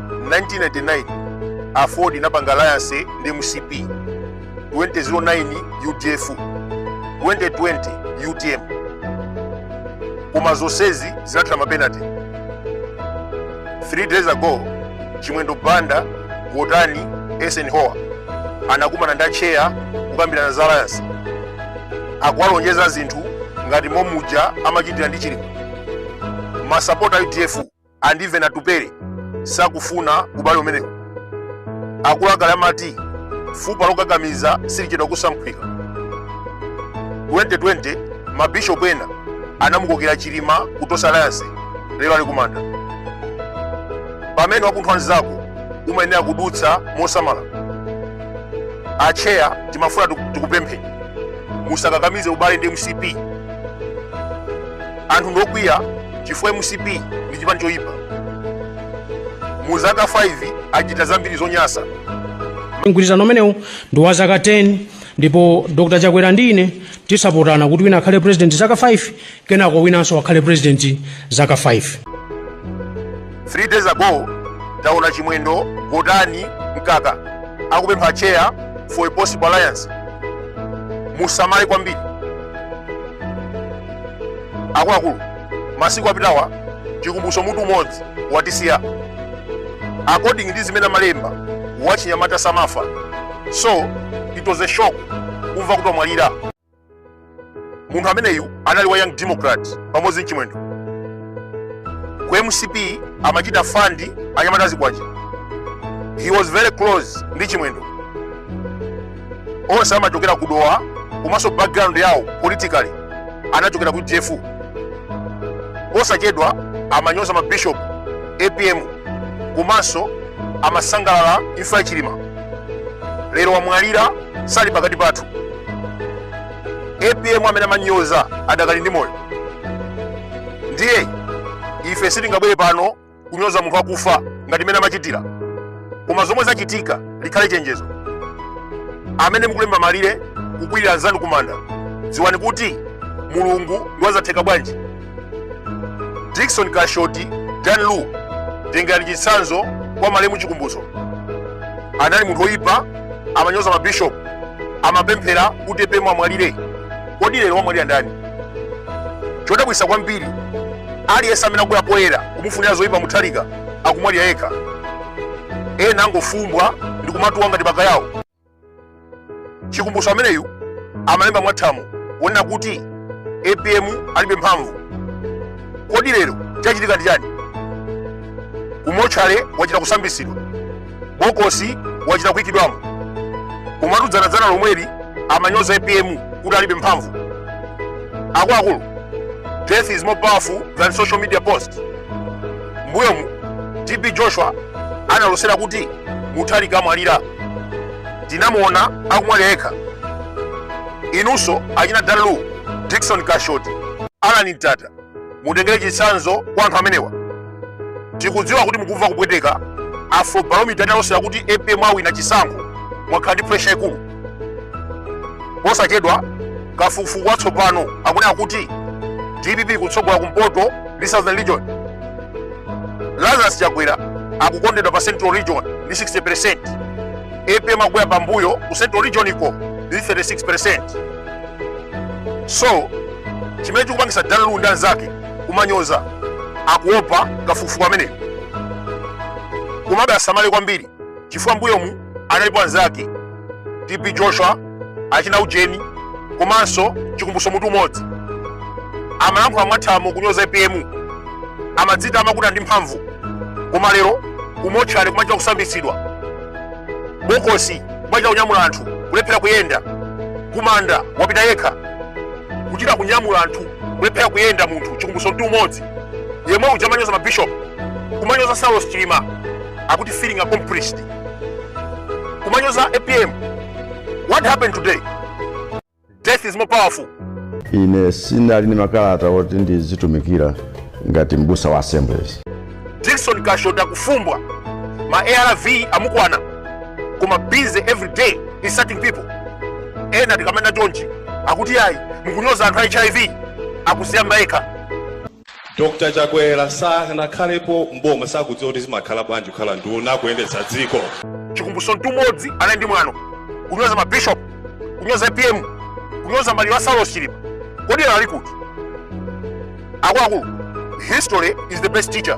1999 aford inapanga alliance ndi mcp 2009 udf 2020 utm koma zonsezi zinathera mapenalty 3 days ago chimwendo banda gotani eisenhower anakumana ndi atcheya kukambirana za alliance akuwalonjeza zinthu ngati momuja amachitira ndi chilima masapota a udf and even atupere sakufuna ubale umenewu akulu akale amati fupa lokakamiza silichedwa kusamphwika 2020 mabishopu ena anamukokera chilima ku tonse alliance lero ali kumanda pamene wapunthwa nzako umayenera kudutsa mosamala atcheya timafuna tikupempheni musakakamize ubale ndi mcp anthu ndokwiya chifukwa mcp ndi chipani choyipa mu zaka 5 achita zambiri zonyasa mgwirizano umenewu ndi wa zaka 10 ndipo dr chakwera ndi ine tizapotana kuti wina akhale president zaka 5 kenako winanso akhale president zaka 5 3 days ago taona chimwendo gotani mkaka akupempha atcheya for a possible alliance musamale kwambiri akuluakulu masiku apitawa chikumbutso mutu umodzi watisiya according ndi zimene amalemba wachinyamata samafa so it was a shock kumva kuti wamwalira munthu ameneyu anali wa young democrat pamodzi ndi chimwendo ku mcp amachita fund anyamata azikwanje he was very close ndi chimwendo onse amachokera ku dowa komanso background yawo politically anachokera ku udf posachedwa amanyoza mabishop apm komanso amasangalala imfa ya chilima lero wamwalira sali pakati pathu apm amene amanyoza adakali ndi moyo ndiye ife sitingabwere pano kunyoza munthu akufa ngati mmene amachitira koma zomwe zachitika likhale chenjezo amene mukulemba maliro kukwirira anzanu kumanda dziwani kuti mulungu ndiwazatheka bwanji dickson kashoti dan lu tengani chitsanzo kwa malemu chikumbutso anali munthu woyipa amanyoza mabishopu amapemphera kuti apm amwalire kodi lero wamwalira ndani chodabwisa kwambiri aliyense amene akubwera poyera kumufunira zoyipa muthalika akumwalira yekha ena angofumbwa ndi kumatuwa ngati baka yawo Chikumbutso ameneyu amalemba mwathamo ponena kuti apm alibe mphamvu kodi lero chachitika ndi chani kumotchale wachita kusambitsidwa bokosi wachita kuyikidwamo komatu dzanadzana lomweli amanyoza apm kuti alibe mphamvu akuluakulu death is more powerful than social media post mbuyomu tb joshua analosera kuti Mutharika amwalira tinamuona akumwalira yekha inunso achina Dan Lu Dickson Kashoti Allan Ntata mutengere chitsanzo kwa anthu amenewa tikudziwa kuti mukumva kupweteka afrobarometer inalosera kuti apm awina chisankho mwakhala ndi pressure yaikulu posachedwa kafukufuku watsopano akunena kuti dpp ikutsogola kumpoto ndi southern region lazarus chakwera akukondedwa pa central region ndi 60 apm akubwera pambuyo ku central region iko ndi 36 so chimene chikupangisa Dan Lu ndi anzake kumanyoza akuopa kafukufuku ameneyo komabe asamale kwambiri chifukwa mbuyomu analipo anzake tb joshua achina ujeni komanso Chikumbutso Mtumodzi amalankhula mwathamo kunyoza apm amadzitama kuti ali ndi mphamvu koma lero kumotchale kumachita kusambitsidwa bokosi kumachita kunyamula anthu kulephera kuyenda kumanda wapita yekha kuchita kunyamula anthu kulephera kuyenda munthu Chikumbutso Mtumodzi yemwe uja amanyoza mabishopu kumanyoza saulos chilima akuti feeling accomplished kumanyoza apm what happened today death is more powerful ine ndili ndi makalata oti ndizitumikira ngati mbusa wa assemblies Dickson Kashoti akufumbwa ma arv amukwana koma busy every day insulting people ena tikamanena chonchi akuti ayi mukunyoza anthu a hiv akuziyamba yekha Dr Chakwera sanakhalepo mboma sakudziwa kuti zimakhala bwanji kukhala nduna kuyendetsa dziko. Chikumbutso Mtumodzi anali ndi mwano kunyoza ma bishop kunyoza APM kunyoza mbali ya Saulos Chilima kodi lero ali kuti akuluakulu history is the best teacher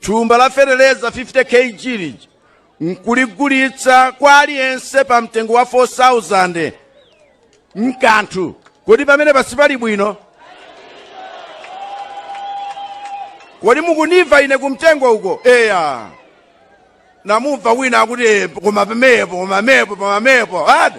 Thumba la feteleza 50 kg lija nkugulitsa kwa aliyense pa mtengo wa 4000 mkanthu kodi pamene pasi pali bwino kodi mukuniva ine kumtengo uko eya namumva wina akuti "Eh, koma pemepo koma mepo pamamepo ati